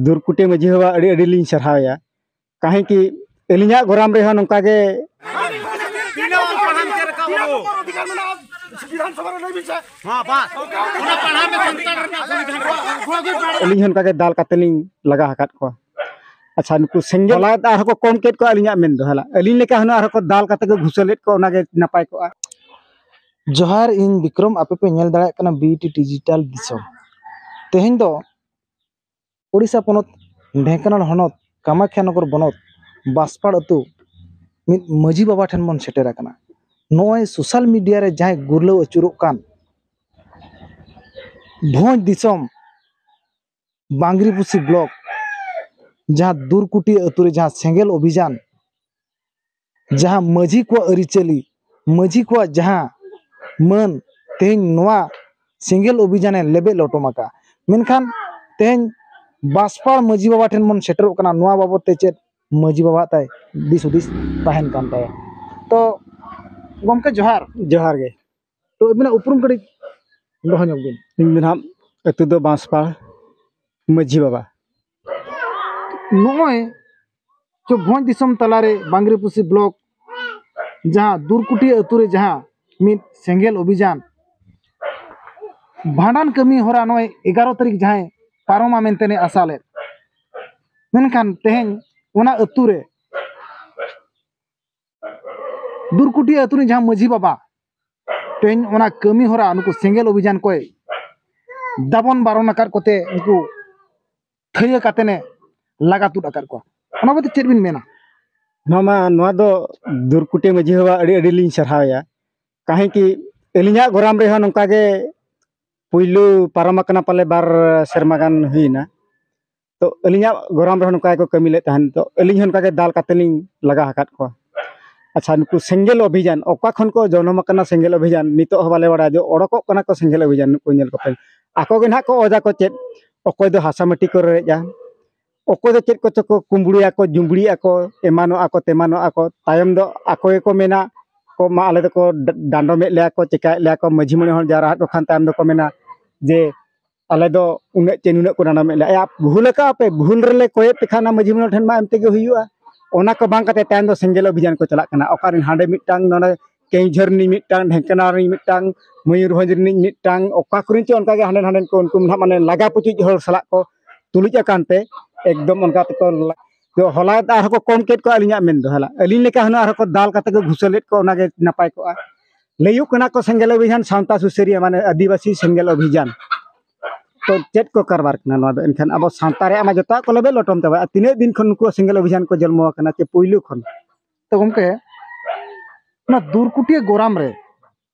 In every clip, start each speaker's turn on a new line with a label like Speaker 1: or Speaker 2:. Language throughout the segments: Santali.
Speaker 1: ᱫᱩᱨᱠᱩᱴᱤ ᱢᱟᱹᱡᱷᱤ ᱵᱟᱵᱟ ᱟᱹᱰᱤ ᱟᱹᱰᱤ ᱞᱤᱧ ᱥᱟᱨᱦᱟᱣᱮᱭᱟ ᱠᱟᱦᱮᱸ ᱠᱤ ᱟᱹᱞᱤᱧᱟᱜ ᱜᱚᱨᱟᱢ ᱨᱮᱦᱚᱸ ᱱᱚᱝᱠᱟ ᱜᱮ ᱟᱹᱞᱤᱧ ᱦᱚᱸ ᱚᱱᱠᱟᱜᱮ ᱫᱟᱞ ᱠᱟᱛᱮ ᱞᱤᱧ ᱞᱟᱜᱟ ᱟᱠᱟᱫ ᱠᱚᱣᱟ ᱟᱪᱪᱷᱟ ᱱᱩᱠᱩ ᱥᱮᱸᱜᱮᱞ ᱞᱟᱭ ᱟᱨᱦᱚᱸ ᱠᱚ ᱠᱚᱢ ᱠᱮᱫ ᱠᱚᱣᱟ ᱟᱹᱞᱤᱧᱟᱜ ᱢᱮᱱ ᱫᱚ ᱦᱟᱞᱟ ᱟᱹᱞᱤᱧ ᱞᱮᱠᱟ ᱦᱩᱱᱟᱹᱝ ᱟᱨᱦᱚᱸ ᱠᱚ ᱫᱟᱞ ᱠᱟᱛᱮ ᱠᱚ ᱜᱷᱩᱥᱟᱹᱞᱮᱫ ᱠᱚᱣᱟ ᱚᱱᱟᱜᱮ ᱱᱟᱯᱟᱭ ᱠᱚᱜᱼᱟ ᱡᱚᱦᱟᱨ ᱤᱧ ᱵᱤᱠᱨᱚᱢ ᱟᱯᱮ ᱯᱮ ᱧᱮᱞ ᱫᱟᱲᱮᱭᱟᱜ ᱠᱟᱱᱟ ᱵᱤᱴᱤ ᱰᱤᱡᱤᱴᱟᱞ ᱫᱤᱥᱚᱢ ᱛᱮᱦᱮᱧ ᱫᱚ ᱳᱰᱤᱥᱟ ᱯᱚᱱᱚᱛ ᱰᱷᱮᱝᱠᱟᱱᱟᱞ ᱦᱚᱱᱚᱛ ᱠᱟᱢᱟᱠᱠᱷᱟ ᱱᱚᱜᱚᱨ ᱵᱚᱱᱚᱛ ᱵᱟᱸᱥᱯᱟᱲ ᱟᱹᱛᱩ ᱢᱤᱫ ᱢᱟᱹᱡᱷᱤ ᱵᱟᱵᱟ ᱴᱷᱮᱱ ᱵᱚᱱ ᱥᱮᱴᱮᱨ ᱟᱠᱟᱱᱟ ᱱᱚᱜᱼᱚᱭ ᱥᱳᱥᱟᱞ ᱢᱤᱰᱤᱭᱟ ᱨᱮ ᱡᱟᱦᱟᱸᱭ ᱜᱩᱨᱞᱟᱹᱣ ᱟᱹᱪᱩᱨᱚᱜ ᱠᱟᱱ ᱵᱷᱚᱸᱡᱽ ᱫᱤᱥᱚᱢ ᱵᱟᱝᱜᱽᱨᱤᱯᱩᱥᱤ ᱵᱞᱚᱠ ᱡᱟᱦᱟᱸ ᱫᱩᱨᱠᱩᱴᱤ ᱟᱹᱛᱩ ᱨᱮ ᱡᱟᱦᱟᱸ ᱥᱮᱸᱜᱮᱞ ᱚᱵᱷᱤᱡᱟᱱ ᱡᱟᱦᱟᱸ ᱢᱟᱹᱡᱷᱤ ᱠᱚᱣᱟᱜ ᱟᱹᱨᱤᱪᱟᱹᱞᱤ ᱢᱟᱹᱡᱷᱤ ᱠᱚᱣᱟᱜ ᱡᱟᱦᱟᱸ ᱢᱟᱹᱱ ᱛᱮᱦᱮᱧ ᱱᱚᱣᱟ ᱥᱮᱸᱜᱮᱞ ᱚᱵᱷᱤᱡᱟᱱᱮ ᱞᱮᱵᱮᱫ ᱞᱚᱴᱚᱢ ᱟᱠᱟᱫᱼᱟ ᱢᱮᱱᱠᱷᱟᱱ ᱛᱮᱦᱮᱧ ᱵᱟᱥᱯᱟ ᱢᱟᱹᱡᱷᱤ ᱵᱟᱵᱟ ᱴᱷᱮᱱ ᱵᱚᱱ ᱥᱮᱴᱮᱨᱚᱜ ᱠᱟᱱᱟ ᱱᱚᱣᱟ ᱵᱟᱵᱚᱛ ᱛᱮ ᱪᱮᱫ ᱢᱟᱹᱡᱷᱤ ᱵᱟᱵᱟᱣᱟᱜ ᱛᱟᱭ ᱫᱤᱥ ᱦᱩᱫᱤᱥ ᱛᱟᱦᱮᱱ ᱠᱟᱱ ᱛᱟᱭᱟ ᱛᱚ ᱜᱚᱢᱠᱮ ᱡᱚᱦᱟᱨ ᱡᱚᱦᱟᱨ ᱜᱮ ᱛᱚ ᱟᱹᱵᱤᱱᱟᱜ ᱩᱯᱨᱩᱢ ᱠᱟᱹᱴᱤᱡ ᱫᱚᱦᱚ ᱧᱚᱜ ᱵᱤᱱ ᱤᱧ ᱫᱚ ᱱᱟᱦᱟᱜ ᱟᱹᱛᱩ ᱫᱚ ᱵᱟᱸᱥᱯᱟᱲ ᱢᱟᱹᱡᱷᱤ ᱵᱟᱵᱟ ᱱᱚᱜᱼᱚᱭ ᱡᱮ ᱵᱷᱚᱸᱡᱽ ᱫᱤᱥᱚᱢ ᱛᱟᱞᱟᱨᱮ ᱵᱟᱝᱜᱽᱨᱤᱯᱩᱥᱤ ᱵᱞᱚᱠ ᱡᱟᱦᱟᱸ ᱫᱩᱨᱠᱩᱴᱤ ᱟᱹᱛᱩ ᱨᱮ ᱡᱟᱦᱟᱸ ᱢᱤᱫ ᱥᱮᱸᱜᱮᱞ ᱚᱵᱷᱤᱡᱟᱱ ᱵᱷᱟᱸᱰᱟᱱ ᱠᱟᱹᱢᱤ ᱦᱚᱨᱟ ᱱᱚᱜᱼᱚᱭ ᱮᱜᱟᱨᱚ ᱛᱟᱹᱨᱤᱠᱷ ᱡᱟᱦᱟᱸᱭ ᱯᱟᱨᱚᱢᱟ ᱢᱮᱱᱛᱮ ᱞᱮ ᱟᱥᱟ ᱞᱮᱫ ᱢᱮᱱᱠᱷᱟᱱ ᱛᱮᱦᱮᱧ ᱚᱱᱟ ᱟᱹᱛᱩ ᱨᱮ ᱫᱩᱨᱠᱩᱴᱤ ᱟᱹᱛᱩ ᱨᱮᱱ ᱡᱟᱦᱟᱸ ᱢᱟᱹᱡᱷᱤ ᱵᱟᱵᱟ ᱛᱮᱦᱮᱧ ᱚᱱᱟ ᱠᱟᱹᱢᱤ ᱦᱚᱨᱟ ᱱᱩᱠᱩ ᱥᱮᱸᱜᱮᱞ ᱚᱵᱷᱤᱡᱟᱱ ᱠᱚᱭ ᱫᱟᱵᱚᱱ ᱵᱟᱨᱚᱱ ᱟᱠᱟᱫ ᱠᱚᱛᱮ ᱩᱱᱠᱩ ᱛᱷᱟᱹᱭᱟᱹ ᱠᱟᱛᱮᱱᱮ ᱞᱟᱜᱟ ᱛᱩᱫ ᱟᱠᱟᱫ ᱠᱚᱣᱟ ᱚᱱᱟ ᱵᱟᱵᱚᱛ ᱪᱮᱫ ᱵᱤᱱ ᱢᱮᱱᱟ ᱱᱚᱣᱟ ᱢᱟ ᱱᱚᱣᱟ ᱫᱚ ᱫᱩᱨᱠᱩᱴᱤ ᱢᱟᱹᱡᱷᱤ ᱵᱟᱵᱟ ᱟᱹᱰᱤ ᱟᱹᱰᱤ ᱞᱤᱧ ᱥᱟᱨᱦᱟᱣᱮᱭᱟ ᱠᱟᱦᱮᱸ ᱠᱤ ᱟᱹᱞᱤᱧᱟᱜ ᱜᱚᱨᱟᱢ ᱨᱮᱦᱚᱸ ᱱᱚᱝᱠᱟ ᱜᱮ ᱯᱩᱭᱞᱩ ᱯᱟᱨᱚᱢ ᱟᱠᱟᱱᱟ ᱯᱟᱞᱮ ᱵᱟᱨ ᱥᱮᱨᱢᱟ ᱜᱟᱱ ᱦᱩᱭᱱᱟ ᱛᱚ ᱟᱹᱞᱤᱧᱟᱜ ᱜᱚᱨᱟᱢ ᱨᱮᱦᱚᱸ ᱱᱚᱝᱠᱟ ᱜᱮᱠᱚ ᱠᱟᱹᱢᱤ ᱞᱮᱫ ᱛᱟᱦᱮᱱ ᱛᱚ ᱟᱹᱞᱤᱧ ᱦᱚᱸ ᱱᱚᱝᱠᱟ ᱜᱮ ᱫᱟᱞ ᱠᱟᱛᱮᱫ ᱞᱤᱧ ᱞᱟᱜᱟ ᱟᱠᱟᱫ ᱠᱚᱣᱟ ᱟᱪᱪᱷᱟ ᱱᱩᱠᱩ ᱥᱮᱸᱜᱮᱞ ᱚᱵᱷᱤᱡᱟᱱ ᱚᱠᱟ ᱠᱷᱚᱱ ᱠᱚ ᱡᱚᱱᱚᱢ ᱟᱠᱟᱱᱟ ᱥᱮᱸᱜᱮᱞ ᱚᱵᱷᱤᱡᱟᱱ ᱱᱤᱛᱚᱜ ᱦᱚᱸ ᱵᱟᱞᱮ ᱵᱟᱲᱟᱭᱟ ᱡᱮ ᱚᱰᱚᱠᱚᱜ ᱠᱟᱱᱟ ᱠᱚ ᱥᱮᱸᱜᱮᱞ ᱚᱵᱷᱤᱡᱟᱱ ᱱᱩᱠᱩ ᱧᱮᱞ ᱠᱚᱯᱮ ᱟᱠᱚ ᱜᱮ ᱱᱟᱦᱟᱜ ᱠᱚ ᱚᱡᱽ ᱟᱠᱚ ᱪᱮᱫ ᱚᱠᱚᱭ ᱫᱚ ᱦᱟᱥᱟ ᱢᱟᱹᱴᱤ ᱠᱚ ᱨᱮᱡᱼᱟ ᱚᱠᱚᱭ ᱫᱚ ᱪᱮᱫ ᱠᱚᱪᱚ ᱠᱚ ᱠᱩᱢᱵᱽᱲᱩᱭᱟ ᱠᱚ ᱡᱩᱢᱵᱽᱲᱤᱜ ᱟᱠᱚ ᱮᱢᱟᱱᱚᱜᱼᱟ ᱠᱚ ᱛᱮᱢᱟᱱᱚᱜᱼᱟ ᱠᱚ ᱛᱟᱭᱚᱢ ᱫᱚ ᱟᱠᱚ ᱜᱮᱠᱚ ᱢᱮᱱᱟ ᱠᱚ ᱢᱟ ᱟᱞᱮ ᱫᱚᱠᱚ ᱰᱟᱸᱰᱚᱢᱮᱫ ᱞᱮᱭᱟ ᱠᱚ ᱪᱤᱠᱟᱹᱭᱮᱫ ᱞᱮᱭᱟ ᱠᱚ ᱢᱟᱺᱡᱷᱤ ᱢᱚᱬᱮ ᱦᱚᱲ ᱡᱟᱣᱨᱟ ᱟᱫ ᱠᱚ ᱠᱷᱟᱱ ᱛᱟᱭᱚᱢ ᱫᱚᱠᱚ ᱢᱮᱱᱟ ᱡᱮ ᱟᱞᱮ ᱫᱚ ᱩᱱᱟᱹᱜ ᱪᱮ ᱱᱩᱱᱟᱹᱜ ᱠᱚ ᱰᱟᱸᱰᱚᱢᱮᱫ ᱞᱮᱭᱟ ᱮᱭᱟ ᱵᱷᱩᱞ ᱟᱠᱟᱫᱼᱟ ᱯᱮ ᱵᱷᱩᱞ ᱨᱮᱞᱮ ᱠᱚᱭᱮᱫ ᱯᱮ ᱠᱷᱟᱱ ᱚᱱᱟ ᱢᱟᱺᱡᱷᱤ ᱢᱚᱬᱮ ᱴᱷᱮᱱ ᱢᱟ ᱮᱢ ᱛᱮᱜᱮ ᱦᱩᱭᱩᱜᱼᱟ ᱚᱱᱟ ᱠᱚ ᱵᱟᱝ ᱠᱟᱛᱮᱫ ᱛᱟᱭᱚᱢ ᱫᱚ ᱥᱮᱸᱜᱮᱞ ᱚᱵᱷᱤᱡᱟᱱ ᱠᱚ ᱪᱟᱞᱟᱜ ᱠᱟᱱᱟ ᱚᱠᱟ ᱨᱮᱱ ᱦᱟᱸᱰᱮ ᱢᱤᱫᱴᱟᱝ ᱱᱚᱰᱮ ᱠᱮᱣᱡᱷᱳᱨ ᱨᱤᱱᱤᱡ ᱢᱤᱫᱴᱟᱝ ᱰᱷᱮᱝᱠᱟᱱᱟ ᱨᱤᱱᱤᱡ ᱢᱤᱫᱴᱟᱝ ᱢᱚᱭᱩᱨᱵᱷᱚᱸᱡᱽ ᱨᱤᱱᱤᱡ ᱢᱤᱫᱴᱟᱝ ᱚᱠᱟ ᱠᱚᱨᱮᱱ ᱪᱚ ᱚᱱᱠᱟ ᱜᱮ ᱦᱟᱸᱰᱮ ᱱᱟᱸᱰᱮᱱ ᱠᱚ ᱩᱱᱠᱩ ᱱᱟᱦᱟᱜ ᱢᱟᱱᱮ ᱞᱟᱜᱟ ᱯᱩᱪᱩᱡ ᱦᱚᱲ ᱥᱟᱞᱟᱜ ᱠᱚ ᱛᱩᱞᱩᱡ ᱟᱠᱟᱱ ᱛᱮ ᱮᱠᱫᱚᱢ ᱚᱱᱠᱟ ᱛᱮᱠᱚ ᱦᱚᱞᱟ ᱟᱨᱦᱚᱸ ᱠᱚ ᱠᱚᱢ ᱠᱮᱫ ᱠᱚᱣᱟ ᱟᱹᱞᱤᱧᱟᱜ ᱢᱮᱱ ᱫᱚ ᱦᱚᱞᱟ ᱟᱹᱞᱤᱧ ᱞᱮᱠᱟ ᱦᱩᱱᱟᱹᱝ ᱟᱨᱦᱚᱸ ᱠᱚ ᱫᱟᱞ ᱠᱟᱛᱮᱫ ᱠᱚ ᱜᱷᱩᱥᱟᱹᱞᱮᱫ ᱠᱚᱣᱟ ᱚᱱᱟᱜᱮ ᱱᱟᱯᱟᱭ ᱠᱚᱜᱼᱟ ᱞᱟᱹᱭᱩᱜ ᱠᱟᱱᱟ ᱠᱚ ᱥᱮᱸᱜᱮᱞ ᱚᱵᱷᱤᱡᱟᱱ ᱥᱟᱶᱛᱟ ᱥᱩᱥᱟᱹᱨᱤᱭᱟᱹ ᱢᱟᱱᱮ ᱟᱹᱫᱤᱵᱟᱹᱥᱤ ᱥᱮᱸᱜᱮᱞ ᱚᱵᱷᱤᱡᱟᱱ ᱛᱚ ᱪᱮᱫ ᱠᱚ ᱠᱟᱨᱵᱟᱨ ᱠᱟᱱᱟ ᱱᱚᱣᱟ ᱫᱚ ᱮᱱᱠᱷᱟᱱ ᱟᱵᱚ ᱥᱟᱶᱛᱟ ᱨᱮᱭᱟᱜ ᱢᱟ ᱡᱚᱛᱚᱣᱟᱜ ᱠᱚ ᱞᱮᱵᱮᱫ ᱞᱚᱴᱚᱢ ᱪᱟᱵᱟᱭᱟ ᱛᱤᱱᱟᱹᱜ ᱫᱤᱱ ᱠᱷᱚᱱ ᱱᱩᱠᱩ ᱥᱮᱸᱜᱮᱞ ᱚᱵᱷᱤᱡᱟᱱ ᱠᱚ ᱡᱚᱱᱢᱚ ᱟᱠᱟᱱᱟ ᱪᱮ ᱯᱩᱭᱞᱩ ᱠᱷᱚᱱ ᱛᱚ ᱜᱚᱢᱠᱮ ᱚᱱᱟ ᱫᱩᱨᱠᱩᱴᱤᱭᱟᱹ ᱜᱚᱨᱟᱢ ᱨᱮ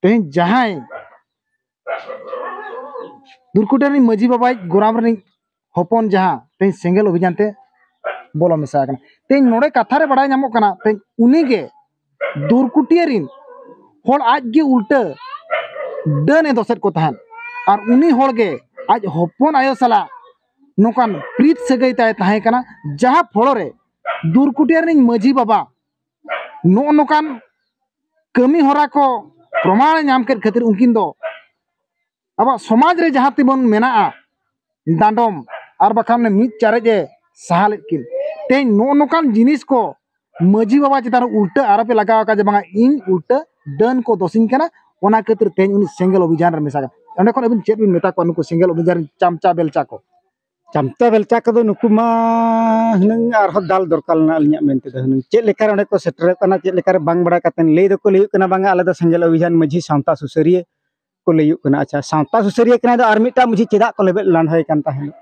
Speaker 1: ᱛᱮᱦᱮᱧ ᱡᱟᱦᱟᱸᱭ ᱫᱩᱨᱠᱩᱴᱤ ᱨᱤᱱᱤᱡ ᱢᱟᱹᱡᱷᱤ ᱵᱟᱵᱟ ᱟᱡ ᱜᱚᱨᱟᱢ ᱨᱤᱱᱤᱡ ᱦᱚᱯᱚᱱ ᱡᱟᱦᱟᱸ ᱛᱮᱦᱮᱧ ᱥᱮᱸᱜᱮᱞ ᱚᱵᱷᱤᱡᱟᱱ ᱛᱮ ᱵᱚᱞᱚ ᱢᱮᱥᱟ ᱟᱠᱟᱱᱟ ᱛᱮᱦᱮᱧ ᱱᱚᱰᱮ ᱠᱟᱛᱷᱟ ᱨᱮ ᱵᱟᱲᱟᱭ ᱧᱟᱢᱚᱜ ᱠᱟᱱᱟ ᱛᱮᱦᱮᱧ ᱩᱱᱤᱜᱮ ᱫᱩᱨᱠᱩᱴᱤᱭᱟᱹ ᱨᱤᱱ ᱦᱚᱲ ᱟᱡ ᱜᱮ ᱩᱞᱴᱟᱹ ᱰᱟᱹᱱ ᱮ ᱫᱚᱥᱮᱫ ᱠᱚ ᱛᱟᱦᱮᱸᱫ ᱟᱨ ᱩᱱᱤ ᱦᱚᱲ ᱜᱮ ᱟᱡ ᱦᱚᱯᱚᱱ ᱟᱭᱳ ᱥᱟᱞᱟᱜ ᱱᱚᱝᱠᱟᱱ ᱯᱨᱤᱛ ᱥᱟᱹᱜᱟᱹᱭ ᱛᱟᱭ ᱛᱟᱦᱮᱸ ᱠᱟᱱᱟ ᱡᱟᱦᱟᱸ ᱯᱷᱚᱲᱚ ᱨᱮ ᱫᱩᱨᱠᱩᱴᱤᱭᱟᱹ ᱨᱤᱱᱤᱡ ᱢᱟᱹᱡᱷᱤ ᱵᱟᱵᱟ ᱱᱚᱜᱼᱚ ᱱᱚᱝᱠᱟᱱ ᱠᱟᱹᱢᱤ ᱦᱚᱨᱟ ᱠᱚ ᱯᱨᱚᱢᱟᱱᱮ ᱧᱟᱢ ᱠᱮᱫ ᱠᱷᱟᱹᱛᱤᱨ ᱩᱱᱠᱤᱱ ᱫᱚ ᱟᱵᱚᱣᱟᱜ ᱥᱚᱢᱟᱡᱽ ᱨᱮ ᱡᱟᱦᱟᱸ ᱛᱮᱵᱚᱱ ᱢᱮᱱᱟᱜᱼᱟ ᱰᱟᱸᱰᱚᱢ ᱟᱨ ᱵᱟᱠᱷᱟᱱ ᱢᱤᱫ ᱪᱟᱨᱮᱡ ᱮ ᱥᱟᱦᱟ ᱞᱮᱫ ᱠᱤᱱ ᱛᱮᱦᱮᱧ ᱱᱚᱜᱼᱚ ᱱᱚᱝᱠᱟᱱ ᱡᱤᱱᱤᱥ ᱠᱚ ᱢᱟᱹᱡᱷᱤ ᱵᱟᱵᱟ ᱪᱮᱛᱟᱱ ᱨᱮ ᱩᱞᱴᱟᱹ ᱟᱨᱚᱯᱮ ᱞᱟᱜᱟᱣ ᱟᱠᱟᱫ ᱡᱮ ᱵᱟᱝᱟ ᱤᱧ ᱩᱞᱴᱟᱹ ᱰᱟᱹᱱ ᱠᱚ ᱫᱚᱥᱤᱧ ᱠᱟᱱᱟ ᱚᱱᱟ ᱠᱷᱟᱹᱛᱤᱨ ᱛᱮᱦᱮᱧ ᱩᱱᱤ ᱥᱮᱸᱜᱮᱞ ᱚᱵᱷᱤᱡᱟᱱ ᱨᱮ ᱢᱮᱥᱟ ᱠᱟᱱᱟ ᱚᱸᱰᱮ ᱠᱷᱚᱱ ᱟᱹᱵᱤᱱ ᱪᱮᱫ ᱵᱤᱱ ᱢᱮᱛᱟ ᱠᱚᱣᱟ ᱱᱩᱠᱩ ᱥᱮᱸᱜᱮᱞ ᱚᱵᱷᱤᱡᱟᱱ ᱨᱮᱱ ᱪᱟᱢᱪᱟ ᱵᱮᱞᱪᱟ ᱠᱚ ᱪᱟᱢᱴᱟ ᱵᱮᱞᱪᱟ ᱠᱚᱫᱚ ᱱᱩᱠᱩ ᱢᱟ ᱦᱩᱱᱟᱹᱝ ᱟᱨᱦᱚᱸ ᱫᱟᱞ ᱫᱚᱨᱠᱟᱨ ᱢᱮᱱᱟᱜᱼᱟ ᱟᱹᱞᱤᱧᱟᱜ ᱢᱮᱱ ᱛᱮᱫᱚ ᱦᱩᱱᱟᱹᱝ ᱪᱮᱫ ᱞᱮᱠᱟ ᱨᱮ ᱚᱸᱰᱮ ᱠᱚ ᱥᱮᱴᱮᱨᱚᱜ ᱠᱟᱱᱟ ᱪᱮᱫ ᱞᱮᱠᱟ ᱨᱮ ᱵᱟᱝ ᱵᱟᱲᱟᱭ ᱠᱟᱛᱮᱫ ᱞᱟᱹᱭ ᱫᱚᱠᱚ ᱞᱟᱹᱭᱮᱫ ᱠᱟᱱᱟ ᱵᱟᱝᱟ ᱟᱞᱮ ᱫᱚ ᱥᱮᱸᱜᱮᱞ ᱚᱵᱷᱤᱡᱟᱱ ᱢᱟᱹᱡᱷᱤ ᱥᱟᱶᱛᱟ ᱥᱩᱥᱟᱹᱨᱤᱭᱟᱹ ᱠᱚ ᱞᱟᱹᱭᱟᱹᱜ ᱠᱟᱱᱟ ᱟᱪᱪᱷᱟ ᱥᱟᱶᱛᱟ ᱥᱩᱥᱟᱹᱨᱤᱭᱟᱹ ᱠᱟᱱᱟᱭ ᱫᱚ ᱟᱨ ᱢᱤᱫᱴᱟᱱ ᱢᱟᱹᱡᱷᱤ ᱪᱮᱫᱟᱜ ᱠᱚ ᱞᱮᱵᱮᱫ ᱞᱟᱸᱰᱷᱟᱹᱭ ᱠᱟᱱ ᱛᱟᱦᱮᱸᱫ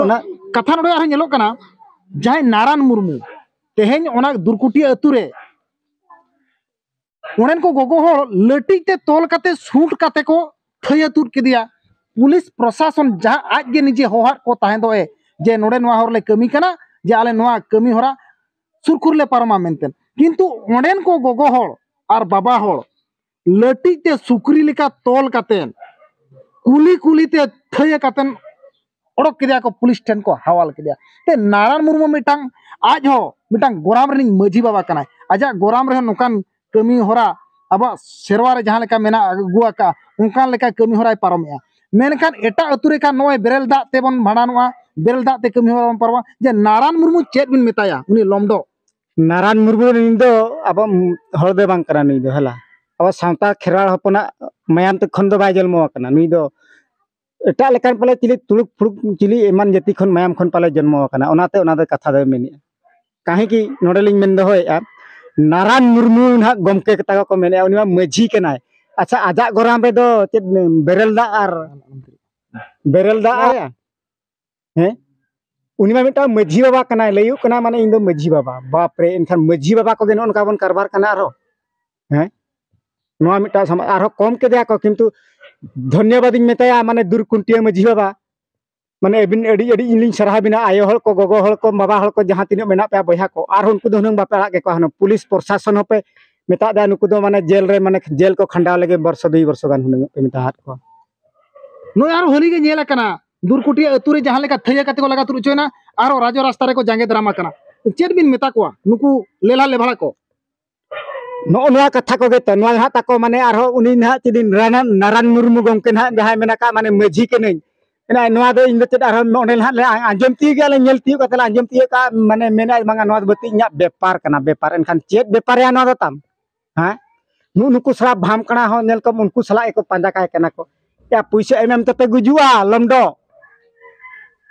Speaker 1: ᱚᱱᱟ ᱠᱟᱛᱷᱟ ᱱᱚᱰᱮ ᱟᱨᱦᱚᱸ ᱧᱮᱞᱚᱜ ᱠᱟᱱᱟ ᱡᱟᱦᱟᱸᱭ ᱱᱟᱨᱟᱱ ᱢᱩᱨᱢᱩ ᱛᱮᱦᱮᱧ ᱚᱱᱟ ᱫᱩᱨᱠᱩᱴᱤ ᱟᱹᱛᱩ ᱨᱮ ᱚᱸᱰᱮᱱ ᱠᱚ ᱜᱚᱜᱚ ᱦᱚᱲ ᱞᱟᱹᱴᱤᱡ ᱛᱮ ᱛᱚᱞ ᱠᱟᱛᱮ ᱥᱩᱴ ᱠᱟᱛᱮ ᱠᱚ ᱛᱷᱟᱹᱭᱟ ᱛᱩᱫ ᱠᱮᱫᱮᱭᱟ ᱯᱩᱞᱤᱥ ᱯᱨᱚᱥᱟᱥᱚᱱ ᱡᱟᱦᱟᱸ ᱟᱡ ᱜᱮ ᱱᱤᱡᱮ ᱦᱚᱦᱟᱫ ᱠᱚ ᱛᱟᱦᱮᱸ ᱫᱚ ᱮ ᱡᱮ ᱱᱚᱰᱮ ᱱᱚᱣᱟ ᱦᱚᱨ ᱞᱮ ᱠᱟᱹᱢᱤ ᱠᱟᱱᱟ ᱡᱮ ᱟᱞᱮ ᱱᱚᱣᱟ ᱠᱟᱹᱢᱤ ᱦᱚᱨᱟ ᱥᱩᱨᱠᱷᱩᱨ ᱞᱮ ᱯᱟᱨᱚᱢᱟ ᱢᱮᱱᱛᱮ ᱠᱤᱱᱛᱩ ᱚᱸᱰᱮᱱ ᱠᱚ ᱜᱚᱜᱚ ᱦᱚᱲ ᱟᱨ ᱵᱟᱵᱟ ᱦᱚᱲ ᱞᱟᱹᱴᱤᱡ ᱛᱮ ᱥᱩᱠᱨᱤ ᱞᱮᱠᱟ ᱛᱚᱞ ᱠᱟᱛᱮ ᱠᱩᱞᱤ ᱠᱩᱞᱤ ᱛᱮ ᱛᱷᱟᱹᱭᱟ ᱠᱟᱛᱮ ᱚᱰᱚᱠ ᱠᱮᱫᱮᱭᱟ ᱠᱚ ᱯᱩᱞᱤᱥ ᱴᱷᱮᱱ ᱠᱚ ᱦᱟᱣᱟᱞ ᱠᱮᱫᱮᱭᱟ ᱛᱮ ᱱᱟᱨᱟᱭᱚᱱ ᱢᱩᱨᱢᱩ ᱢᱤᱫᱴᱟᱝ ᱟᱡ ᱦᱚᱸ ᱢᱤᱫᱴᱟᱝ ᱜᱚᱨᱟᱢ ᱨᱤᱱᱤᱡ ᱢᱟᱹᱡᱷᱤ ᱵᱟᱵᱟ ᱠᱟᱱᱟᱭ ᱟᱡᱟᱜ ᱜᱚᱨᱟᱢ ᱨᱮᱦᱚᱸ ᱱᱚᱝᱠᱟᱱ ᱠᱟᱹᱢᱤ ᱦᱚᱨᱟ ᱟᱵᱚᱣᱟᱜ ᱥᱮᱨᱣᱟ ᱨᱮ ᱡᱟᱦᱟᱸ ᱞᱮᱠᱟ ᱢᱮᱱᱟᱜ ᱟᱹᱜᱩ ᱟᱠᱟᱜᱼᱟ ᱚᱱᱠᱟᱱ ᱞᱮᱠᱟ ᱠᱟᱹᱢᱤ ᱦᱚᱨᱟᱭ ᱯᱟᱨᱚᱢᱮᱜᱼᱟ ᱢᱮᱱᱠᱷᱟᱱ ᱮᱴᱟᱜ ᱟᱹᱛᱩ ᱨᱮ ᱠᱷᱟᱱ ᱱᱚᱜᱼᱚᱭ ᱵᱮᱨᱮᱞ ᱫᱟᱜ ᱛᱮᱵᱚᱱ ᱵᱷᱟᱸᱰᱟᱱᱚᱜᱼᱟ ᱵᱮᱨᱮᱞ ᱫᱟᱜ ᱛᱮ ᱠᱟᱹᱢᱤ ᱦᱚᱨᱟ ᱵᱚᱱ ᱯᱟᱨᱚᱢᱟ ᱡᱮ ᱱᱟᱨᱟᱭᱚᱱ ᱢᱩᱨᱢᱩ ᱪᱮᱫ ᱵᱤᱱ ᱢᱮᱛᱟᱭᱟ ᱩᱱᱤ ᱞᱚᱢᱰᱚ ᱱᱟᱨᱟᱭᱚᱱ ᱢᱩᱨᱢᱩ ᱱᱩᱭ ᱫᱚ ᱟᱵᱚ ᱦᱚᱲ ᱫᱚ ᱵᱟᱝ ᱠᱟᱱᱟ ᱱᱩᱭ ᱫᱚ ᱦᱮᱞᱟ ᱟᱵᱚ ᱥᱟᱶᱛᱟ ᱠᱷᱮᱨᱣᱟᱲ ᱦᱚᱯᱚᱱᱟᱜ ᱢᱟᱭᱟᱢ ᱛᱮ ᱠᱷᱚᱱ ᱫᱚ ᱵᱟᱭ ᱡᱚᱱᱢᱚ ᱟᱠᱟᱱᱟ ᱱᱩᱭ ᱫᱚ ᱮᱴᱟᱜ ᱞᱮᱠᱟᱱ ᱯᱟᱞᱮ ᱪᱤᱞᱤ ᱛᱩᱲᱩᱠ ᱯᱷᱩᱲᱩᱠ ᱪᱤᱞᱤ ᱮᱢᱟᱱ ᱡᱟᱹᱛᱤ ᱠᱷᱚᱱ ᱢᱟᱭᱟᱢ ᱠᱷᱚᱱ ᱯᱟᱞᱮ ᱡᱚᱱᱢᱚ ᱟᱠᱟᱱᱟ ᱚᱱᱟᱛᱮ ᱚᱱᱟ ᱫᱚ ᱠᱟᱛᱷᱟ ᱫᱚᱭ ᱢᱮᱱᱮᱜᱼᱟ ᱠᱟᱦᱮ ᱠᱤ ᱱᱚᱰᱮ ᱞᱤᱧ ᱢᱮᱱ ᱫᱚᱦᱚᱭᱮᱜᱼᱟ ᱱᱟᱨᱟᱱ ᱢᱩᱨᱢᱩ ᱱᱟᱦᱟᱜ ᱜᱚᱢᱠᱮ ᱠᱟᱛᱷᱟ ᱠᱚ ᱢᱮᱱᱮᱜᱼᱟ ᱩᱱᱤ ᱢᱟ ᱢᱟᱹᱡᱷᱤ ᱠᱟᱱᱟᱭ ᱟᱪᱪᱷᱟ ᱟᱡᱟᱜ ᱜᱚᱨᱟᱢ ᱨᱮᱫᱚ ᱪᱮᱫ ᱵᱮᱨᱮᱞ ᱫᱟᱜ ᱟᱨ ᱵᱮᱨᱮᱞ ᱫᱟᱜ ᱦᱮᱸ ᱩᱱᱤ ᱢᱟ ᱢᱤᱫᱴᱟᱝ ᱢᱟᱹᱡᱷᱤ ᱵᱟᱵᱟ ᱠᱟᱱᱟᱭ ᱞᱟᱹᱭᱚᱜ ᱠᱟᱱᱟ ᱢᱟᱱᱮ ᱤᱧ ᱫᱚ ᱢᱟᱹᱡᱷᱤ ᱵᱟᱵᱟ ᱵᱟᱯ ᱨᱮ ᱮᱱᱠᱷᱟᱱ ᱢᱟᱹᱡᱷᱤ ᱵᱟᱵᱟ ᱠᱚᱜᱮ ᱱᱚᱜᱼᱚ ᱱᱚᱝᱠᱟ ᱵᱚᱱ ᱠᱟᱨᱵᱟᱨ ᱠᱟᱱᱟ ᱟᱨᱦᱚᱸ ᱦᱮᱸ ᱱᱚᱣᱟ ᱢᱤᱫᱴᱟᱝ ᱥᱟᱢᱟᱡᱽ ᱟᱨᱦᱚᱸ ᱠᱚᱢ ᱠᱮᱫᱮᱭᱟ ᱠᱚ ᱠᱤᱱᱛᱩ ᱫᱷᱚᱱᱭᱚᱵᱟᱫᱤᱧ ᱢᱮᱛᱟᱭᱟ ᱢᱟᱱᱮ ᱫᱩᱨ ᱠᱩᱱᱴᱤᱭᱟᱹ ᱢᱟᱹᱡᱷᱤ ᱵᱟᱵᱟ ᱢᱟᱱᱮ ᱟᱹᱵᱤᱱ ᱟᱹᱰᱤ ᱟᱹᱰᱤ ᱤᱧ ᱞᱤᱧ ᱥᱟᱨᱦᱟᱣ ᱵᱤᱱᱟ ᱟᱭᱳ ᱦᱚᱲ ᱠᱚ ᱜᱚᱜᱚ ᱦᱚᱲ ᱠᱚ ᱵᱟᱵᱟ ᱦᱚᱲ ᱠᱚ ᱡᱟᱦᱟᱸ ᱛᱤᱱᱟᱹᱜ ᱢᱮᱱᱟᱜ ᱯᱮᱭᱟ ᱵᱚᱭᱦᱟ ᱠᱚ ᱟᱨᱦᱚᱸ ᱩᱱᱠᱩ ᱫᱚ ᱦᱩᱱᱟᱹᱝ ᱵᱟᱯᱮ ᱟᱲᱟᱜ ᱠᱮᱠᱚᱣᱟ ᱦᱩᱱᱟᱹᱝ ᱯᱩᱞᱤᱥ ᱯᱨᱚᱥᱟᱥᱚᱱ ᱦᱚᱸᱯᱮ ᱢᱮᱛᱟᱜ ᱫᱟ ᱱᱩᱠᱩ ᱫᱚ ᱢᱟᱱᱮ ᱡᱮᱞ ᱨᱮ ᱢᱟᱱᱮ ᱡᱮᱞ ᱠᱚ ᱠᱷᱟᱸᱰᱟᱣ ᱞᱟᱹᱜᱤᱫ ᱵᱚᱨᱥᱚ ᱫᱩᱭ ᱵᱚᱨᱥᱚ ᱜᱟᱱ ᱦᱩᱱᱟᱹᱝ ᱯᱮ ᱢᱮᱛᱟᱦᱟᱫ ᱠᱚᱣᱟ ᱱᱚᱜᱼᱚᱭ ᱟᱨᱦᱚᱸ ᱦᱟᱹᱱᱤ ᱜᱮ ᱧᱮᱞ ᱟᱠᱟᱱᱟ ᱫᱩᱨᱠᱩᱴᱤ ᱟᱹᱛᱩ ᱨᱮ ᱡᱟᱦᱟᱸ ᱞᱮᱠᱟ ᱛᱷᱟᱹᱭᱟᱹ ᱠᱟᱛᱮ ᱠᱚ ᱞᱟᱜᱟ ᱛᱩᱫ ᱦᱚᱪᱚᱭᱮᱱᱟ ᱟᱨᱚ ᱨᱟᱡᱚ ᱨᱟᱥᱛᱟ ᱨᱮᱠᱚ ᱡᱟᱸᱜᱮ ᱫᱟᱨᱟᱢ ᱟᱠᱟᱱᱟ ᱪᱮᱫ ᱵᱤᱱ ᱢᱮᱛᱟ ᱠᱚᱣᱟ ᱱᱩᱠᱩ ᱞᱮᱞᱦᱟ ᱞᱮᱵᱷᱟᱲᱟ ᱠᱚ ᱱᱚᱜᱼᱚ ᱱᱚᱣᱟ ᱠᱟᱛᱷᱟ ᱠᱚᱜᱮ ᱛᱚ ᱱᱚᱣᱟ ᱦᱟᱸᱜ ᱛᱟᱠᱚ ᱢᱟᱱᱮ ᱟᱨᱦᱚᱸ ᱩᱱᱤ ᱱᱟᱦᱟᱜ ᱪᱮᱫᱤᱱ ᱱᱟᱨᱟᱭᱚᱱ ᱢᱩᱨᱢᱩ ᱜᱚᱢᱠᱮ ᱱᱟᱦᱟᱜ ᱡᱟᱦᱟᱸᱭ ᱢᱮᱱᱟᱜ ᱠᱟᱜ ᱢᱟᱱᱮ ᱢᱟᱹᱡᱷᱤ ᱠᱟᱹᱱᱟᱹᱧ ᱮᱱᱟ ᱱᱚᱣᱟ ᱫᱚ ᱤᱧ ᱫᱚ ᱪᱮᱫ ᱟᱨᱦᱚᱸ ᱱᱚᱰᱮ ᱱᱟᱦᱟᱜ ᱞᱮ ᱟᱸᱡᱚᱢ ᱛᱤᱭᱳᱜ ᱜᱮᱭᱟ ᱞᱮ ᱧᱮᱞ ᱛᱤᱭᱳᱜ ᱠᱟᱛᱮ ᱞᱮ ᱟᱸᱡᱚᱢ ᱛᱤᱭᱳᱜ ᱠᱟᱜᱼᱟ ᱢᱟᱱᱮ ᱢᱮᱱᱟᱭ ᱵᱟᱝᱟ ᱱᱚᱣᱟ ᱫᱚ ᱵᱟᱹᱛᱤ ᱤᱧᱟᱹᱜ ᱵᱮᱯᱟᱨ ᱠᱟᱱᱟ ᱵᱮᱯᱟᱨ ᱮᱱᱠᱷᱟᱱ ᱪᱮᱫ ᱵᱮᱯᱟᱨ ᱭᱟ ᱱᱚᱣᱟ ᱫᱚ ᱛᱟᱢ ᱦᱮᱸ ᱱᱩᱜ ᱱᱩᱠᱩ ᱥᱟᱞᱟ ᱵᱷᱟᱢ ᱠᱟᱬᱟ ᱦᱚᱸ ᱧᱮᱞ ᱠᱚᱢ ᱩᱱᱠᱩ ᱥᱟᱞᱟᱜ ᱜᱮᱠᱚ ᱯᱟᱸᱡᱟ ᱠᱟᱭ ᱠᱟᱱᱟ ᱠᱚ ᱭᱟ ᱯᱩᱭᱥᱟᱹ ᱮᱢ ᱮᱢ ᱛᱮᱯᱮ ᱜᱩᱡᱩᱜᱼᱟ ᱞᱚᱢᱰᱚ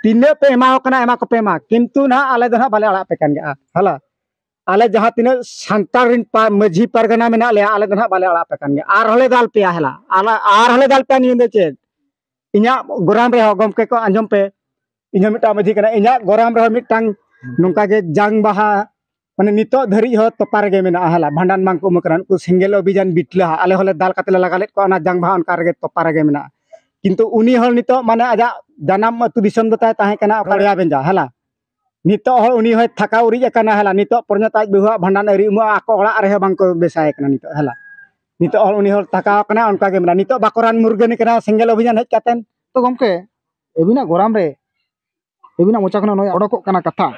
Speaker 1: ᱛᱤᱱᱟᱹᱜ ᱯᱮ ᱮᱢᱟᱣ ᱠᱟᱱᱟ ᱮᱢᱟ ᱠᱚᱯᱮ ᱢᱟ ᱠᱤᱱᱛᱩ ᱱᱟᱜ ᱟᱞᱮ ᱫᱚ ᱱᱟᱜ ᱵᱟᱞᱮ ᱟᱲᱟᱜ ᱯᱮ ᱠᱟᱱ ᱜᱮᱭᱟ ᱦᱟᱞᱟ ᱟᱞᱮ ᱡᱟᱦᱟᱸ ᱛᱤᱱᱟᱹᱜ ᱥᱟᱱᱛᱟᱲ ᱨᱤᱱ ᱢᱟᱹᱡᱷᱤ ᱯᱟᱨᱜᱟᱱᱟ ᱢᱮᱱᱟᱜ ᱞᱮᱭᱟ ᱟᱞᱮ ᱫᱚ ᱱᱟᱜ ᱵᱟᱞᱮ ᱟᱲᱟᱜ ᱯᱮ ᱠᱟᱱ ᱜᱮᱭᱟ ᱟᱨ ᱦᱚᱸᱞᱮ ᱫᱟᱞ ᱯᱮᱭᱟ ᱦᱮᱞᱟ ᱟᱨ ᱦᱚᱸᱞᱮ ᱫᱟᱞ ᱯᱮᱭᱟ ᱱᱤᱭᱟᱹ ᱫᱚ ᱪᱮᱫ ᱤᱧᱟᱹᱜ ᱜᱚᱨᱟᱢ ᱨᱮᱦᱚᱸ ᱜᱚᱢᱠᱮ ᱠᱚ ᱟᱸᱡᱚᱢ ᱯᱮ ᱤᱧ ᱦᱚᱸ ᱢᱤᱫᱴᱟᱝ ᱢᱟᱹᱡᱷᱤ ᱠᱟᱱᱟ ᱤᱧᱟᱹᱜ ᱜᱚᱨᱟᱢ ᱨᱮᱦᱚᱸ ᱢᱤᱫᱴᱟᱝ ᱱᱚᱝᱠᱟ ᱜᱮ ᱡᱟᱝ ᱵᱟᱦᱟ ᱢᱟᱱᱮ ᱱᱤᱛᱚᱜ ᱫᱷᱟᱹᱨᱤᱡ ᱦᱚᱸ ᱛᱚᱯᱟ ᱨᱮᱜᱮ ᱢᱮᱱᱟᱜᱼᱟ ᱦᱟᱞᱟ ᱵᱷᱟᱸᱰᱟᱱ ᱵᱟᱝ ᱠᱚ ᱮᱢ ᱠᱟᱱᱟ ᱩᱱᱠᱩ ᱥᱮᱸᱜᱮᱞ ᱚᱵᱷᱤᱡᱟᱱ ᱵᱤᱴᱞᱟᱹ ᱟᱞᱮ ᱦᱚᱸᱞᱮ ᱫᱟᱞ ᱠᱟᱛᱮ ᱞᱮ ᱞᱟᱜᱟ ᱞᱮᱫ ᱠᱚᱣᱟ ᱚᱱᱟ ᱡᱟᱝ ᱵᱟᱦᱟ ᱚᱱᱠᱟ ᱨᱮᱜᱮ ᱛᱚᱯᱟ ᱨᱮᱜᱮ ᱢᱮᱱᱟᱜᱼᱟ ᱠᱤᱱᱛᱩ ᱩᱱᱤ ᱦᱚᱲ ᱱᱤᱛᱚᱜ ᱢᱟᱱᱮ ᱟᱡᱟᱜ ᱡᱟᱱᱟᱢ ᱟᱹᱛᱩ ᱫᱤᱥᱚᱢ ᱫᱚ ᱛᱟᱭ ᱛᱟᱦᱮᱸ ᱠᱟᱱᱟ ᱚᱠᱟᱲᱤᱭᱟ ᱵᱮᱸᱡᱟ ᱦᱟᱞᱟ ᱱᱤᱛᱚᱜ ᱦᱚᱸ ᱩᱱᱤ ᱦᱚᱸᱭ ᱛᱷᱟᱠᱟ ᱩᱨᱤᱡ ᱟᱠᱟᱱᱟ ᱦᱮᱞᱟ ᱱᱤᱛᱚᱜ ᱯᱚᱨᱡᱚᱱᱛᱚ ᱟᱡ ᱵᱟᱹᱦᱩᱣᱟᱜ ᱵᱷᱟᱸᱰᱟᱱ ᱟᱹᱣᱨᱤ ᱩᱢᱩᱜᱼᱟ ᱟᱠᱚ ᱚᱲᱟᱜ ᱨᱮᱦᱚᱸ ᱵᱟᱝᱠᱚ ᱵᱮᱥᱟᱭ ᱠᱟᱱᱟ ᱱᱤᱛᱚᱜ ᱦᱮᱞᱟ ᱱᱤᱛᱚᱜ ᱦᱚᱸ ᱩᱱᱤ ᱦᱚᱸ ᱛᱷᱟᱠᱟᱣ ᱟᱠᱟᱱᱟ ᱚᱱᱠᱟ ᱜᱮ ᱢᱮᱱᱟᱭᱟ ᱱᱤᱛᱚᱜ ᱵᱟᱠᱚ ᱨᱟᱱ ᱢᱩᱨᱜᱟᱹᱱᱮ ᱠᱟᱱᱟ ᱥᱮᱸᱜᱮᱞ ᱚᱵᱷᱤᱡᱟᱱ ᱦᱮᱡ ᱠᱟᱛᱮ ᱛᱚ ᱜᱚᱢᱠᱮ ᱟᱹᱵᱤᱱᱟᱜ ᱜᱚᱨᱟᱢ ᱨᱮ ᱟᱹᱵᱤᱱᱟᱜ ᱢᱚᱪᱟ ᱠᱷᱚᱱᱟᱜ ᱱᱚᱜᱼᱚᱭ ᱚᱰᱚᱠᱚᱜ ᱠᱟᱱᱟ ᱠᱟᱛᱷᱟ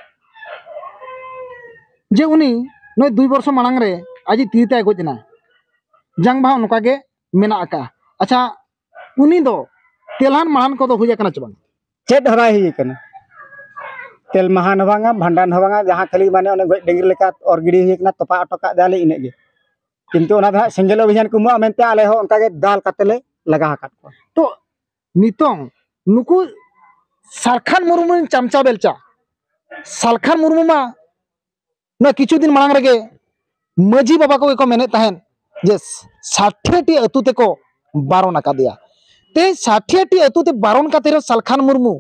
Speaker 1: ᱡᱮ ᱩᱱᱤ ᱱᱚᱜᱼᱚᱭ ᱫᱩᱭ ᱵᱚᱨᱥᱚ ᱢᱟᱲᱟᱝ ᱨᱮ ᱟᱡᱤᱡ ᱛᱤᱨᱤ ᱛᱟᱭ ᱜᱚᱡ ᱮᱱᱟ ᱡᱟᱝ ᱵᱟᱦᱟ ᱱᱚᱝᱠᱟ ᱜᱮ ᱢᱮᱱᱟᱜ ᱟᱠᱟᱜᱼᱟ ᱟᱪᱪᱷᱟ ᱩᱱᱤ ᱫᱚ ᱛᱮᱞᱟᱱ ᱢᱟᱲᱟᱱ ᱠᱚᱫᱚ ᱦᱩᱭ ᱟᱠᱟᱱᱟ ᱪᱮ ᱵᱟᱝ ᱪᱮᱫ ᱦᱚᱸ ᱵᱟᱭ ᱦᱩᱭ ᱟᱠᱟᱱᱟ ᱛᱮᱞ ᱢᱟᱦᱟᱱ ᱦᱚᱸ ᱵᱟᱝᱟ ᱵᱷᱟᱸᱰᱟᱱ ᱦᱚᱸ ᱵᱟᱝᱟ ᱡᱟᱦᱟᱸ ᱠᱷᱟᱹᱞᱤ ᱢᱟᱱᱮ ᱚᱱᱮ ᱜᱚᱡ ᱰᱟᱹᱝᱨᱤ ᱞᱮᱠᱟ ᱚᱨ ᱜᱤᱰᱤ ᱦᱩᱭ ᱟᱠᱟᱱᱟ ᱛᱚᱯᱟ ᱦᱚᱴᱚ ᱠᱟᱜ ᱫᱟᱞᱮ ᱤᱱᱟᱹᱜ ᱜᱮ ᱠᱤᱱᱛᱩ ᱚᱱᱟ ᱫᱚ ᱦᱟᱸᱜ ᱥᱮᱸᱜᱮᱞ ᱚᱵᱷᱤᱡᱟᱱ ᱠᱚ ᱮᱢᱚᱜᱼᱟ ᱢᱮᱱᱛᱮ ᱟᱞᱮ ᱦᱚᱸ ᱚᱱᱠᱟ ᱜᱮ ᱫᱟᱞ ᱠᱟᱛᱮ ᱞᱮ ᱞᱟᱜᱟ ᱟᱠᱟᱫ ᱠᱚᱣᱟ ᱛᱚ ᱱᱤᱛᱚᱝ ᱱᱩᱠᱩ ᱥᱟᱞᱠᱷᱟᱱ ᱢᱩᱨᱢᱩ ᱨᱮᱱ ᱪᱟᱢᱪᱟ ᱵᱮᱞᱪᱟ ᱥᱟᱞᱠᱷᱟᱱ ᱢᱩᱨᱢᱩ ᱢᱟ ᱱᱚᱣᱟ ᱠᱤᱪᱷᱩ ᱫᱤᱱ ᱢᱟᱲᱟᱝ ᱨᱮᱜᱮ ᱢᱟᱺᱡᱷᱤ ᱵᱟᱵᱟ ᱠᱚᱜᱮ ᱠᱚ ᱢᱮᱱᱮᱫ ᱛᱟᱦᱮᱸᱫ ᱡᱮ ᱥᱟᱴᱷᱮᱴᱤ ᱟᱹᱛᱩ ᱛᱮᱠᱚ ᱵᱟᱨᱚᱱ ᱟᱠᱟᱫᱮᱭᱟ ᱛᱮᱦᱮᱧ ᱥᱟᱴᱷᱮᱴᱤ ᱟᱹᱛᱩ ᱛᱮ ᱵᱟᱨᱚᱱ ᱠᱟᱛᱮ ᱨᱮᱦᱚᱸ ᱥᱟᱞᱠᱷᱟᱱ ᱢᱩᱨᱢᱩ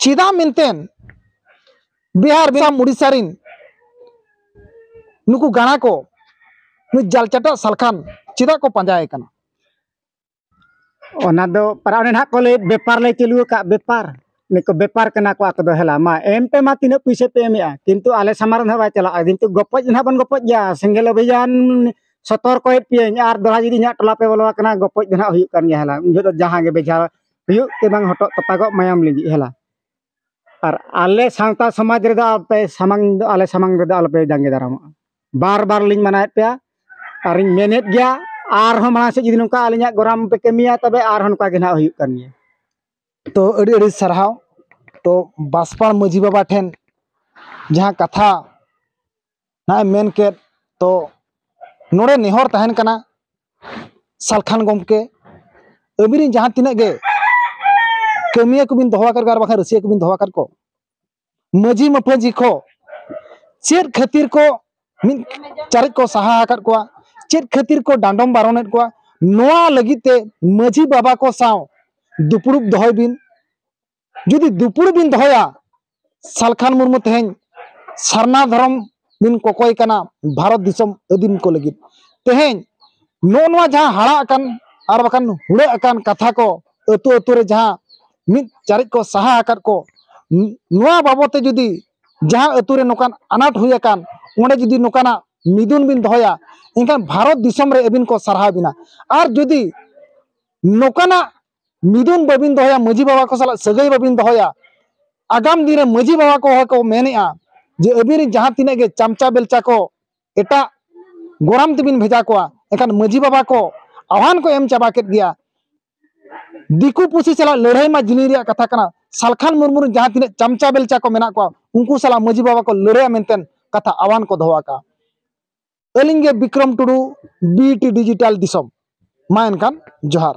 Speaker 1: ᱪᱮᱫᱟᱜ ᱢᱮᱱᱛᱮᱱ ᱵᱤᱦᱟᱨ ᱵᱤᱦᱟᱨ ᱩᱲᱤᱥᱥᱟ ᱨᱤᱱ ᱱᱩᱠᱩ ᱜᱟᱬᱟ ᱠᱚ ᱱᱩᱭ ᱡᱟᱞᱪᱟᱴᱟᱜ ᱥᱟᱞᱠᱷᱟᱱ ᱪᱮᱫᱟᱜ ᱠᱚ ᱯᱟᱸᱡᱟᱭᱮ ᱠᱟᱱᱟ ᱚᱱᱟ ᱫᱚ ᱯᱟᱨᱟ ᱚᱱᱮ ᱱᱟᱦᱟᱜ ᱠᱚ ᱞᱟᱹᱭᱮᱫ ᱵᱮᱯᱟᱨ ᱞᱮ ᱪᱟᱹᱞᱩ ᱟᱠᱟᱫ ᱵᱮᱯᱟᱨ ᱱᱤᱛᱚᱜ ᱵᱮᱯᱟᱨ ᱠᱟᱱᱟ ᱠᱚ ᱟᱠᱚ ᱫᱚ ᱦᱮᱞᱟ ᱢᱟ ᱮᱢ ᱯᱮ ᱢᱟ ᱛᱤᱱᱟᱹᱜ ᱯᱩᱭᱥᱟᱹ ᱯᱮ ᱮᱢᱮᱜᱼᱟ ᱠᱤᱱᱛᱩ ᱟᱞᱮ ᱥᱟᱢᱟᱝ ᱨᱮ ᱱᱟᱦᱟᱜ ᱵᱟᱭ ᱪᱟᱞᱟᱜᱼᱟ ᱠᱤᱱᱛᱩ ᱜᱚᱯᱚᱡ ᱫᱚ ᱱᱟᱦᱟᱜ ᱵᱚᱱ ᱜᱚᱯᱚᱡ ᱜᱮᱭᱟ ᱥᱮᱸᱜᱮᱞ ᱚᱵᱷᱤᱡᱟᱱ ᱥᱚᱛᱚᱨᱠᱚᱭᱮᱫ ᱯᱮᱭᱟᱹᱧ ᱟᱨ ᱫᱚᱲᱦᱟ ᱡᱩᱫᱤ ᱤᱧᱟᱹᱜ ᱴᱚᱞᱟ ᱯᱮ ᱵᱚᱞᱚ ᱟᱠᱟᱱᱟ ᱜᱚᱯᱚᱡ ᱫᱚ ᱱᱟᱦᱟᱜ ᱦᱩᱭᱩᱜ ᱠᱟᱱ ᱜᱮᱭᱟ ᱦᱮᱞᱟ ᱩᱱ ᱡᱚᱦᱚᱜ ᱫᱚ ᱡᱟᱦᱟᱸ ᱜᱮ ᱵᱮᱡᱷᱟ ᱦᱩᱭᱩᱜ ᱥᱮ ᱵᱟᱝ ᱦᱚᱴᱚᱜ ᱛᱚᱯᱟᱜᱚᱜ ᱢᱟᱭᱟᱢ ᱞᱤᱸᱡᱤᱜ ᱦᱮᱞᱟ ᱟᱨ ᱟᱞᱮ ᱥᱟᱶᱛᱟ ᱥᱚᱢᱟᱡᱽ ᱨᱮᱫᱚ ᱟᱯᱮ ᱥᱟᱢᱟᱝ ᱫᱚ ᱟᱞᱮ ᱥᱟᱢᱟᱝ ᱨᱮᱫᱚ ᱟᱞᱚᱯᱮ ᱡᱟᱸᱜᱮ ᱫᱟᱨᱟᱢᱚᱜᱼᱟ ᱵᱟᱨ ᱵᱟᱨ ᱞᱤᱧ ᱢᱟᱱᱟᱣᱮᱫ ᱯᱮᱭᱟ ᱟᱨᱤᱧ ᱢᱮᱱᱮᱫ ᱜᱮᱭᱟ ᱟᱨᱦᱚᱸ ᱢᱟᱲᱟᱝ ᱥᱮᱫ ᱡᱩᱫᱤ ᱱᱚᱝᱠᱟ ᱟᱹᱞᱤᱧᱟᱜ ᱜᱚᱨᱟᱢ ᱯᱮ ᱠᱟᱹᱢᱤᱭᱟ ᱛᱚᱵᱮ ᱟᱨᱦᱚᱸ ᱱᱚᱝᱠᱟ ᱜᱮ ᱱᱟᱦᱟᱜ ᱦᱩᱭᱩᱜ ᱠᱟᱱ ᱜᱮᱭᱟ ᱛᱚ ᱟᱹᱰᱤ ᱟᱹᱰᱤ ᱥᱟᱨᱦᱟᱣ ᱛᱚ ᱵᱟᱥᱯᱟ ᱢᱟᱹᱡᱷᱤ ᱵᱟᱵᱟ ᱴᱷᱮᱱ ᱡᱟᱦᱟᱸ ᱠᱟᱛᱷᱟ ᱱᱟᱜᱼᱮ ᱢᱮᱱ ᱠᱮᱫ ᱛᱚ ᱱᱚᱰᱮ ᱱᱮᱦᱚᱨ ᱛᱟᱦᱮᱱ ᱠᱟᱱᱟ ᱥᱟᱞᱠᱷᱟᱱ ᱜᱚᱢᱠᱮ ᱟᱹᱵᱤᱱ ᱨᱮᱱ ᱡᱟᱦᱟᱸ ᱛᱤᱱᱟᱹᱜ ᱜᱮ ᱠᱟᱹᱢᱤᱭᱟᱹ ᱠᱚᱵᱤᱱ ᱫᱚᱦᱚ ᱟᱠᱟᱫ ᱠᱚᱣᱟ ᱟᱨ ᱵᱟᱠᱷᱟᱱ ᱨᱟᱹᱥᱤᱭᱟᱹ ᱠᱚᱵᱤᱱ ᱫᱚᱦᱚ ᱟᱠᱟᱫ ᱠᱚ ᱢᱟᱹᱡᱷᱤ ᱢᱟᱯᱟᱹᱡᱷᱤ ᱠᱚ ᱪᱮᱫ ᱠᱷᱟᱹᱛᱤᱨ ᱠᱚ ᱢᱤᱫ ᱪᱟᱨᱮᱡ ᱠᱚ ᱥᱟᱦᱟ ᱟᱠᱟᱫ ᱠᱚᱣᱟ ᱪᱮᱫ ᱠᱷᱟᱹᱛᱤᱨ ᱠᱚ ᱰᱟᱸᱰᱚᱢ ᱵᱟᱨᱚᱱᱮᱫ ᱠᱚᱣᱟ ᱱᱚᱣᱟ ᱞᱟᱹᱜᱤᱫ ᱛᱮ ᱢᱟᱹᱡᱷᱤ ᱵᱟᱵᱟ ᱠᱚ ᱥᱟᱶ ᱫᱩᱯᱲᱩᱵ ᱫᱚᱦᱚᱭ ᱵᱤᱱ ᱡᱩᱫᱤ ᱫᱩᱯᱩᱲ ᱵᱤᱱ ᱫᱚᱦᱚᱭᱟ ᱥᱟᱞᱠᱷᱟᱱ ᱢᱩᱨᱢᱩ ᱛᱮᱦᱮᱧ ᱥᱟᱨᱱᱟ ᱫᱷᱚᱨᱚᱢ ᱵᱤᱱ ᱠᱚᱠᱚᱭ ᱠᱟᱱᱟ ᱵᱷᱟᱨᱚᱛ ᱫᱤᱥᱚᱢ ᱟᱹᱫᱤᱢ ᱠᱚ ᱞᱟᱹᱜᱤᱫ ᱛᱮᱦᱮᱧ ᱱᱚᱜᱼᱚ ᱱᱚᱣᱟ ᱡᱟᱦᱟᱸ ᱦᱟᱲᱟᱜ ᱟᱠᱟᱱ ᱟᱨ ᱵᱟᱠᱷᱟᱱ ᱦᱩᱲᱟᱹᱜ ᱟᱠᱟᱱ ᱠᱟᱛᱷᱟ ᱠᱚ ᱟᱹᱛᱩ ᱟᱹᱛᱩ ᱨᱮ ᱡᱟᱦᱟᱸ ᱢᱤᱫ ᱪᱟᱨᱮᱡ ᱠᱚ ᱥᱟᱦᱟ ᱟᱠᱟᱫ ᱠᱚ ᱱᱚᱣᱟ ᱵᱟᱵᱚᱫ ᱛᱮ ᱡᱩᱫᱤ ᱡᱟᱦᱟᱸ ᱟᱹᱛᱩ ᱨᱮ ᱱᱚᱝᱠᱟᱱ ᱟᱱᱟᱴ ᱦᱩᱭ ᱟᱠᱟᱱ ᱚᱸᱰᱮ ᱡᱩᱫᱤ ᱱᱚᱝᱠᱟᱱᱟᱜ ᱢᱤᱫᱩᱱ ᱵᱤᱱ ᱫᱚᱦᱚᱭᱟ ᱮᱱᱠᱷᱟᱱ ᱵᱷᱟᱨᱚᱛ ᱫᱤᱥᱚᱢ ᱨᱮ ᱟᱹᱵᱤᱱ ᱠᱚ ᱥᱟᱨᱦᱟᱣ ᱵᱤᱱᱟ ᱟᱨ ᱡᱩᱫᱤ ᱱᱚᱝᱠᱟᱱᱟᱜ ᱢᱤᱫᱩᱱ ᱵᱟᱹᱵᱤᱱ ᱫᱚᱦᱚᱭᱟ ᱢᱟᱹᱡᱷᱤ ᱵᱟᱵᱟ ᱠᱚ ᱥᱟᱞᱟᱜ ᱥᱟᱹᱜᱟᱹᱭ ᱵᱟᱹᱵᱤᱱ ᱫᱚᱦᱚᱭᱟ ᱟᱜᱟᱢ ᱫᱤᱱ ᱨᱮ ᱢᱟᱹᱡᱷᱤ ᱵᱟᱵᱟ ᱠᱚ ᱦᱚᱸᱠᱚ ᱢᱮᱱᱮᱜᱼᱟ ᱡᱮ ᱟᱹᱵᱤᱱ ᱨᱮᱱ ᱡᱟᱦᱟᱸ ᱛᱤᱱᱟᱹᱜ ᱜᱮ ᱪᱟᱢᱪᱟ ᱵᱮᱞᱪᱟ ᱠᱚ ᱮᱴᱟᱜ ᱜᱚᱨᱟᱢ ᱛᱮᱵᱤᱱ ᱵᱷᱮᱡᱟ ᱠᱚᱣᱟ ᱮᱱᱠᱷᱟᱱ ᱢᱟᱹᱡᱷᱤ ᱵᱟᱵᱟ ᱠᱚ ᱟᱦᱟᱱ ᱠᱚ ᱮᱢ ᱪᱟᱵᱟ ᱠᱮᱫ ᱜᱮᱭᱟ ᱫᱤᱠᱩ ᱯᱩᱥᱤ ᱥᱟᱞᱟᱜ ᱞᱟᱹᱲᱦᱟᱹᱭ ᱢᱟ ᱡᱤᱞᱤᱧ ᱨᱮᱭᱟᱜ ᱠᱟᱛᱷᱟ ᱠᱟᱱᱟ ᱥᱟᱞᱠᱷᱟᱱ ᱢᱩᱨᱢᱩ ᱨᱮᱱ ᱡᱟᱦᱟᱸ ᱛᱤᱱᱟᱹᱜ ᱪᱟᱢᱪᱟ ᱵᱮᱞᱪᱟ ᱠᱚ ᱢᱮᱱᱟᱜ ᱠᱚᱣᱟ ᱩᱱᱠᱩ ᱥᱟᱞᱟᱜ ᱢᱟᱹᱡᱷᱤ ᱵᱟᱵᱟ ᱠᱚ ᱞᱟᱹᱲᱦᱟᱹᱭᱟ ᱢᱮᱱᱛᱮ ᱠᱟᱛᱷᱟ ᱟᱦᱟᱱ ᱠᱚ ᱫᱚᱦᱚ ᱟᱠᱟᱜᱼᱟ ᱟᱹᱞᱤᱧ ᱜᱮ ᱵᱤᱠᱨᱚᱢ ᱴᱩᱰᱩ ᱵᱤᱴᱤ ᱰᱤᱡᱤᱴᱟᱞ ᱫᱤᱥᱚᱢ ᱢᱟ ᱮᱱᱠᱷᱟᱱ ᱡᱚᱦᱟᱨ